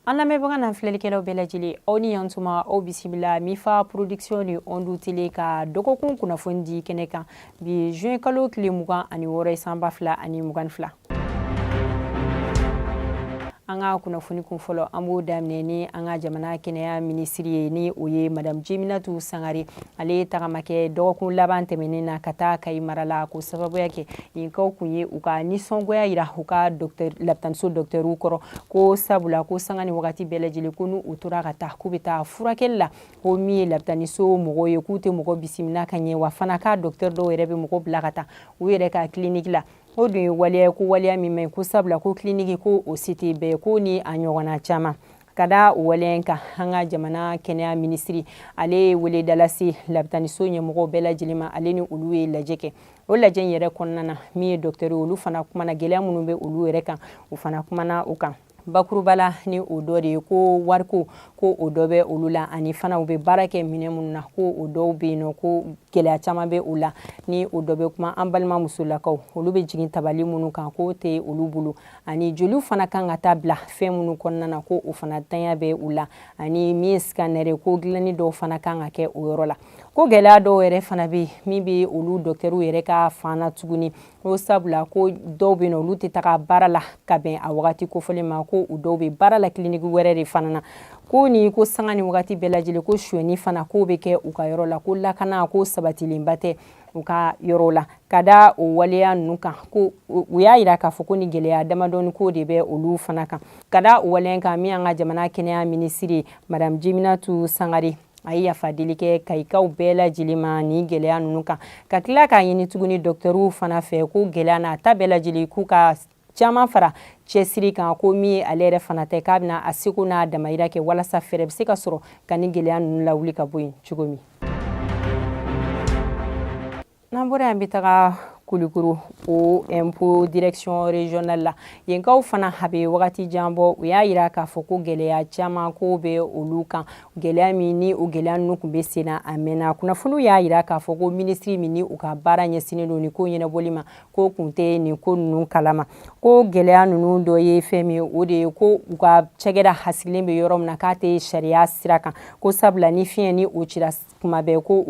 an lamɛnbaga n'an filɛlikɛlaw bɛɛ lajɛlen aw ni yan tuma aw bisimila mifa production ni ondu tele ka dɔgɔkun kunnafoni di kɛnɛ kan bi juin kalo tile mugan ani wɔɔrɔ ye san ba fila ani mugan fila an ka kunnafoni kun fɔlɔ an b'o daminɛ ni an ka jamana kɛnɛya minisiri ye ni o ye madamu jeminatu sangare ale ye tagama kɛ dɔgɔkun laban tɛmɛnen na ka taa kayi mara la ko sababuya kɛ yenkaw kun ye u ka nisɔngoya yira u ka lapitaniso dɔktɛriw kɔrɔ ko sabula ko sanga ni wagati bɛɛ lajɛlen ko n'u tora ka taa k'u bɛ taa furakɛli la ko min ye lapitaniso mɔgɔw ye k'u tɛ mɔgɔ bisimila ka ɲɛ wa fana k'a dɔktɛri dɔw yɛrɛ bɛ mɔgɔ bila ka taa u yɛrɛ ka kiliniki la o dun ye waleya ko waleya min man ɲi ko sabula ko kiliniki ko o se tɛ bɛɛ ko ni a ɲɔgɔnna caman ka da o waleya kan an ka jamana kɛnɛya minisiri ale ye weleda lase lapitaniso ɲɛmɔgɔw bɛɛ lajɛlen ma ale ni olu ye lajɛ kɛ o lajɛ in yɛrɛ kɔnɔna na min ye dɔktɛri olu fana kumana gɛlɛya minnu bɛ olu yɛrɛ kan u fana kumana o kan bakuruba la ni o dɔ de ye ko wariko ko o dɔ bɛ olu la ani fana u bɛ baara kɛ minɛn minnu na ko o dɔw bɛ yen nɔ ko gɛlɛya caman bɛ u la ni o dɔ bɛ kuma an balima musolakaw olu bɛ jigin tabali minnu kan k'o tɛ olu bolo ani joliw fana kan ka taa bila fɛn minnu kɔnɔna na ko o fana ntanya bɛ u la ani min ye scanner ko dilanni dɔw fana kan ka kɛ o yɔrɔ la ko gɛlɛya dɔw yɛrɛ fana bɛ min bɛ olu dɔkitɛriw yɛrɛ ka fan na tuguni ko sabula ko dɔw bɛ yen nɔ olu tɛ taga baara la ka bɛn a wagati kofɔlen ma ko u dɔw bɛ baara la kiliniki wɛrɛ de fana na ko ni ko sanga ni wagati bɛɛ lajɛlen ko sonyɛni fana k'o bɛ kɛ u ka yɔrɔ la ko lakana ko sabatilenba tɛ u ka yɔrɔ la ka da o waleya ninnu kan ko u y'a yira k'a fɔ ko nin gɛlɛya damadɔni k'o de bɛ olu fana kan ka da o waleya kan min an ka jamana kɛnɛya minisiri madame jeminatu sangare a ye yafa deli kɛ kayikaw bɛɛ lajɛlen ma nin gɛlɛya ninnu kan ka tila k'a ɲini tuguni dɔktɛriw fana fɛ ko gɛlɛya n'a ta bɛɛ lajɛlen k'u ka caman fara cɛsiri kan ko min ye ale yɛrɛ fana ta ye k'a bɛna a seko n'a damayira kɛ walasa fɛɛrɛ bɛ se ka sɔrɔ ka nin gɛlɛya ninnu lawuli ka bɔ yen cogo min n'an bɔra yan an bɛ taga kulikoro o impôt direction régionale la yenkaw fana a bɛ wagati jan bɔ u y'a yira k'a fɔ ko gɛlɛya caman ko bɛ olu kan gɛlɛya min ni o gɛlɛya ninnu tun bɛ sen na a mɛnna kunnafoniw y'a yira k'a fɔ ko minisiri min ni u ka baara ɲɛsinnen don nin ko ɲɛnabɔli ma k'o kun tɛ nin ko ninnu kalama ko gɛlɛya ninnu dɔ ye fɛn min ye o de ye ko u ka cakɛda basigilen bɛ yɔrɔ min na k'a tɛ sariya sira kan ko sabula ni fiɲɛ ni o cira kuma bɛɛ ko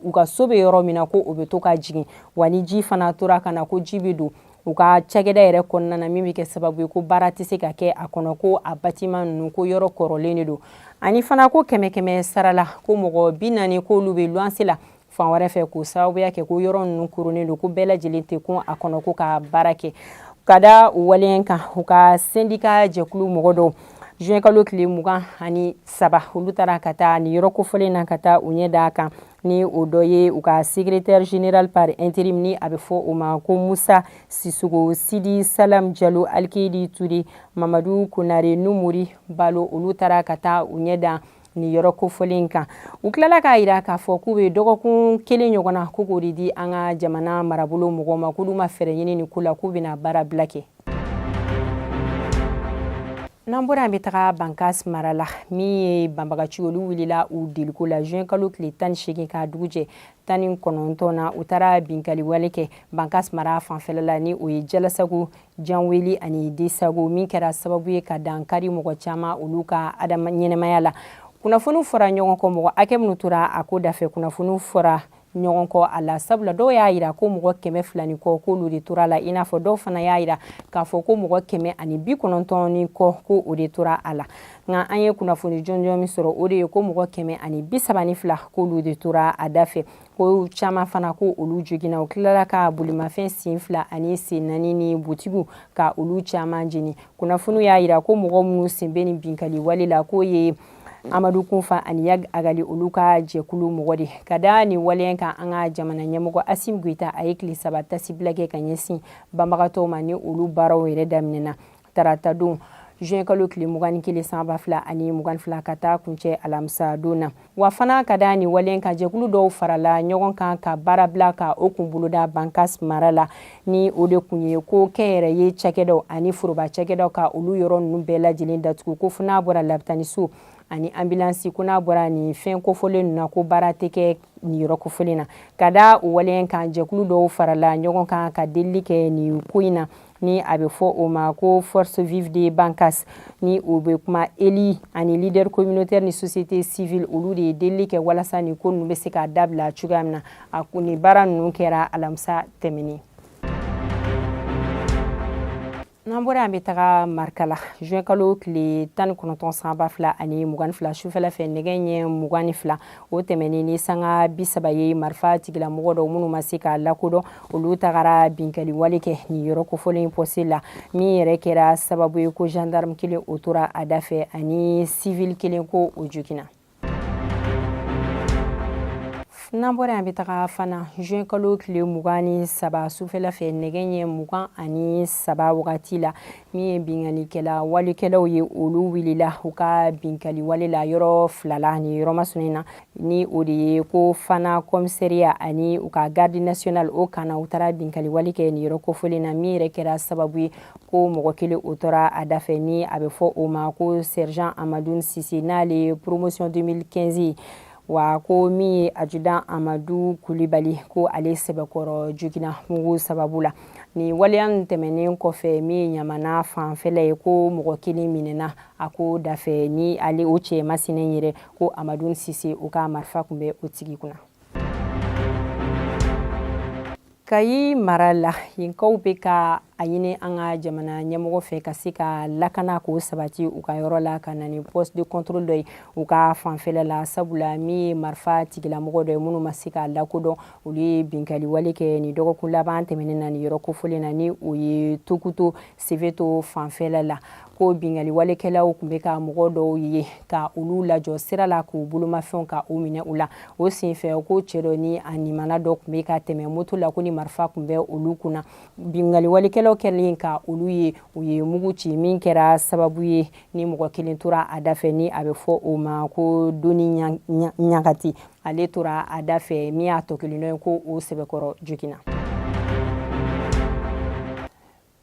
u ka so bɛ yɔrɔ min na ko o bɛ to ka jigin wa ni ji fana tora ka na ko ji bɛ don u ka cakɛda yɛrɛ kɔnɔna na min bɛ kɛ sababu ye ko baara tɛ se ka kɛ a kɔnɔ ko a bâtiment ninnu ko yɔrɔ kɔrɔlen de don ani fana ko kɛmɛ kɛmɛ sara la ko mɔgɔ bi naani k'olu bɛ luwanse la fan wɛrɛ fɛ k'o sababuya kɛ ko yɔrɔ ninnu koronnen don ko bɛɛ lajɛlen tɛ kun a kɔnɔ ko ka baara kɛ ka da o waleya kan u ka sendika jɛkulu mɔgɔ dɔw juin kalo tile mugan ani saba olu taara ka taa nin yɔrɔ kofɔlen na ka taa u ɲɛ d'a kan ni o dɔ ye u ka secrétaire général par intérim ni a bɛ fɔ o ma ko Musa Sissogo Sidi Salam Jalo Alkayidi Ture Mamadu Konare Numuri Balo olu taara ka taa u ɲɛ da ni yɔrɔ kofɔlen kan u tilala k'a yira k'a fɔ k'u bɛ dɔgɔkun kelen ɲɔgɔn na ko k'o de di an ka jamana marabolo mɔgɔw ma k'olu ma fɛɛrɛ ɲini nin ko la k'u bɛna baara bila kɛ n'an bɔra an bɛ taga bankas mara la min ye banbagaci olu wulila u deliko la juin kalo tile tan ni seegin ka dugu jɛ tan ni kɔnɔntɔn na u taara binkaliwale kɛ bankas mara fanfɛla la ni o ye jalasago janweli ani desago min kɛra sababu ye ka dankari mɔgɔ caman olu ka adama ɲɛnɛmaya la kunnafoniw fɔra ɲɔgɔn kɔ mɔgɔ hakɛ minnu tora a ko dafɛ kunnafoniw fɔra ɲɔgɔn kɔ a la sabula dɔw y'a yira ko mɔgɔ kɛmɛ fila ni kɔ k'olu de tora a la i n'a fɔ dɔw fana y'a yira k'a fɔ ko mɔgɔ kɛmɛ ani bi kɔnɔntɔn ni kɔ ko o de tora a la nka an ye kunnafoni jɔnjɔn min sɔrɔ o de ye ko mɔgɔ kɛmɛ ani bi saba ni fila k'olu de tora a da fɛ ko caman fana ko olu joginna u tilala ka bolimafɛn sen fila ani sen naani ni butigiw ka olu caman jeni kunnafoniw y'a yira ko mɔgɔ minnu sen bɛ nin binkali wale la k'o ye amadu kunfa ani yag agali olu ka jɛkulu mɔgɔ de ka da nin waleya kan an ka jamana ɲɛmɔgɔ Asim Goita a ye tile saba tasibila kɛ ka ɲɛsin banbagatɔw ma ni olu baaraw yɛrɛ daminɛna Tarata don juin kalo tile mugan ni kelen san ba fila ani mugan ni fila ka taa kuncɛ alamisa don na wa fana ka da nin waleya kan jɛkulu dɔw farala ɲɔgɔn kan ka baara bila ka o kun boloda bankas mara la ni o de kun ye ko kɛnyɛrɛye cakɛdaw ani foroba cakɛdaw ka olu yɔrɔ ninnu bɛɛ lajɛlen datugu ko fo n'a bɔra labitaniso ani anbilansi ko n'a bɔra nin fɛn kofɔlen ninnu na ko baara tɛ kɛ nin yɔrɔ kofɔlen na ka da o waleya kan jɛkulu dɔw farala ɲɔgɔn kan ka delili kɛ nin ko in na ni a bɛ fɔ o ma ko force vive de Bankas ni o bɛ kuma élus ani leader communautaire ni société civile olu de ye delili kɛ walasa nin ko ninnu bɛ se ka dabila cogoya min na a nin baara ninnu kɛra alamisa tɛmɛnen n'an bɔra an bɛ taga Markala juin kalo tile tan ni kɔnɔntɔn san ba fila ani mugan ni fila sufɛla fɛ nɛgɛ ɲɛ mugan ni fila o tɛmɛnen ni sanga bi saba ye marifa tigilamɔgɔ dɔw minnu ma se ka lakodɔn olu tagara binkaliwale kɛ nin yɔrɔ kofɔlen pɔsi la min yɛrɛ kɛra sababu ye ko gendarme kelen o tora a da fɛ ani sivili kelen ko o joginna n'an bɔra yan bɛ taga Fana juin kalo tile mugan ni saba sufɛla fɛ nɛgɛ ɲɛ mugan ani saba wagati la min ye binkanikɛla walekɛlaw ye olu wulila u ka binkali wale la yɔrɔ fila la ni yɔrɔ masinen na ni o de ye ko fana commissariat ani u ka garde nationale o kan na u taara binkali wale kɛ ni yɔrɔ kofɔlen na min yɛrɛ kɛra sababu ye ko mɔgɔ kelen o tora a dafɛ ni a bɛ fɔ o ma ko sergent amadu sise n'ale promotion deux mille quinze wa ko min ye adjudant amadu kulibali ko ale sɛbɛkɔrɔ jogina mugu sababu la nin waleya nin tɛmɛnen kɔfɛ min ye ɲamana fanfɛla ye ko mɔgɔ kelen minɛna a ko dafɛ ni ale o cɛ masinen yɛrɛ ko amadu sise o ka marifa kun bɛ o tigi kunna kayi mara la yenkaw bɛ ka a ɲini an ka jamana ɲɛmɔgɔ fɛ ka se ka lakana k'o sabati u ka yɔrɔ la ka na ni poste de contrôle dɔ ye u ka fanfɛla la sabula min ye marifa tigilamɔgɔ dɔ ye minnu ma se ka lakodɔn olu ye binkali wale kɛ ni dɔgɔkun laban tɛmɛnen na ni yɔrɔ kofɔlen na ni o ye tukoto sefeto fanfɛla la ko bingali walekɛlaw tun bɛ ka mɔgɔ dɔw ye ka olu lajɔ sira la k'u bolomafɛnw ka u minɛ u la o senfɛ ko cɛ dɔ ni a nimana dɔ tun bɛ ka tɛmɛ moto la ko ni marifa tun bɛ olu kunna bingali walekɛlaw kɛlen ka olu ye u ye mugu ci min kɛra sababu ye ni mɔgɔ kelen tora a dafɛ ni a bɛ fɔ o ma ko doni ɲagati ale tora a da fɛ min y'a tɔ kelen dɔ ye ko o sɛbɛkɔrɔ jogina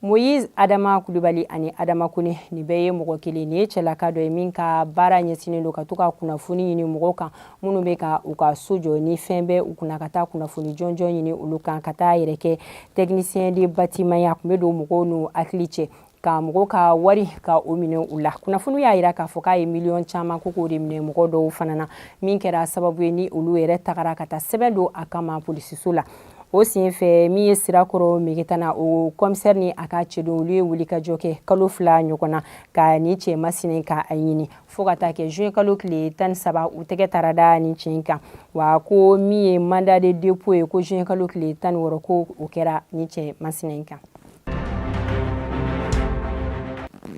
moyiz adama kulubali ani adama kone nin bɛɛ ye mɔgɔ kelen nin ye cɛlaka dɔ ye min ka baara ɲɛsinnen don ka to ka kunnafoni ɲini mɔgɔw kan minnu bɛ ka u ka so jɔ ni fɛn bɛ u kunna ka taa kunnafoni jɔnjɔn ɲini olu kan ka t'a yɛrɛ kɛ technicien de bâtiment y'a tun bɛ don mɔgɔw n'u hakili cɛ ka mɔgɔw ka wari ka o minɛ u la kunnafoniw y'a yira k'a fɔ k'a ye miliyɔn caman ko k'o de minɛ mɔgɔ dɔw fana na min kɛra sababu ye ni olu yɛrɛ tagara ka taa sɛbɛn don a kama polisiso la o senfɛ min ye sirakɔrɔ megetana o commissaire ni a ka cɛden olu ye wulikajɔ kɛ kalo fila ɲɔgɔn na ka ni cɛ masinen ka a ɲini fo ka taa kɛ juin kalo tile tan ni saba u tɛgɛ taara da ni cɛ kan wa ko min ye mandat de dépôt ye ko juin kalo tile tan ni wɔɔrɔ ko o kɛra ni cɛ masinen kan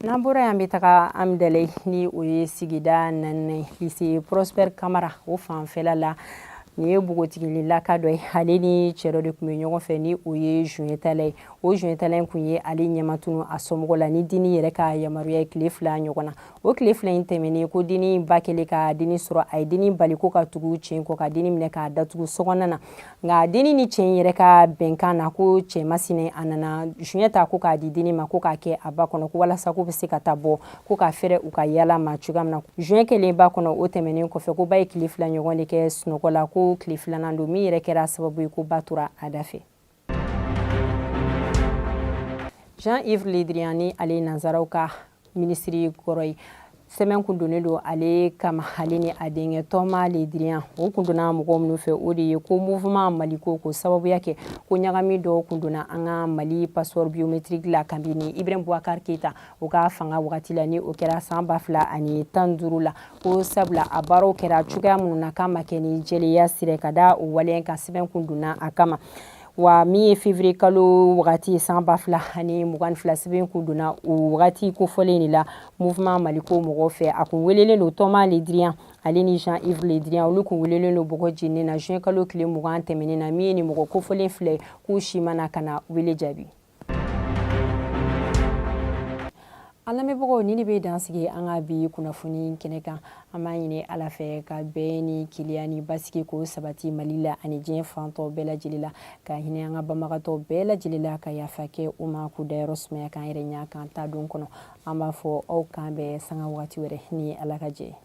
n'an bɔra yan bɛ taga amdalaye ni o ye sigida naaninan lycée prosper kamara o fanfɛla la nin ye npogotigilaka dɔ ye ale ni cɛ dɔ de tun bɛ ɲɔgɔn fɛ ni o ye joint tala ye o joint tala in kun ye ale ɲɛmatunu a somɔgɔ la ni dennin yɛrɛ ka yamaruya ye tile fila ɲɔgɔn na o tile fila in tɛmɛnen ko dennin in ba kɛlen ka dennin sɔrɔ a ye dennin bali ko ka tugu cɛ in kɔ ka dennin minɛ k'a datugu sokɔnɔna na nka dennin ni cɛ in yɛrɛ ka bɛnkan na ko cɛ masinen a nana joint ta ko k'a di dennin ma ko k'a kɛ a ba kɔnɔ ko walasa k'u bɛ se ka taa bɔ ko ka fɛrɛ u ka yaala ma cogoya min na joint kɛlen ba kɔnɔ o tɛmɛnen kɔfɛ ko ba ye tile fila ɲɔgɔn de kɛ sunɔgɔ la ko tile filanan don min yɛrɛ kɛra sababu ye ko ba tora a da fɛ jean yves le drian ni ale ye nanzaraw ka minisiri kɔrɔ ye sɛbɛn kun donnen don ale kama ale ni a denkɛ thomas le drian o kun donna mɔgɔw minnu fɛ o de ye ko mouvement maliko k'o sababuya kɛ ko ɲagami dɔw kun donna an ka mali passeport biométrique la kabini ibrahim boubacar keita o ka fanga wagati la ni o kɛra san ba fila ani tan duuru la ko sabula a baaraw kɛra cogoya minnu na k'a ma kɛ ni jɛlenya sira ka da o waleya kan sɛbɛn kun donna a kama wa min ye février kalo wagati san ba fila ani mugan fila sɛbɛn kun donna o wagati kofɔlen de la mouvement maliko mɔgɔw fɛ a kun welelen don thomas le drian ale ni jean yves le drian olu kun welelen don bɔgɔ jeninen na juin kalo tile mugan tɛmɛnen na min ye nin mɔgɔ kofɔlen fila k'u si ma na ka na wele jaabi an lamɛnbagaw nin de bɛ dan sigi an ka bi kunnafoni kɛnɛ kan an b'a ɲini ala fɛ ka bɛn ni kelenya ni basigi k'o sabati mali la ani diɲɛ fan tɔ bɛɛ lajɛlen la ka hinɛ an ka banbagatɔ bɛɛ lajɛlen la ka yafa kɛ u ma k'u dayɔrɔ sumaya k'an yɛrɛ ɲa k'an taa don kɔnɔ an b'a fɔ aw k'an bɛn sanga wagati wɛrɛ ni ala ka jɛ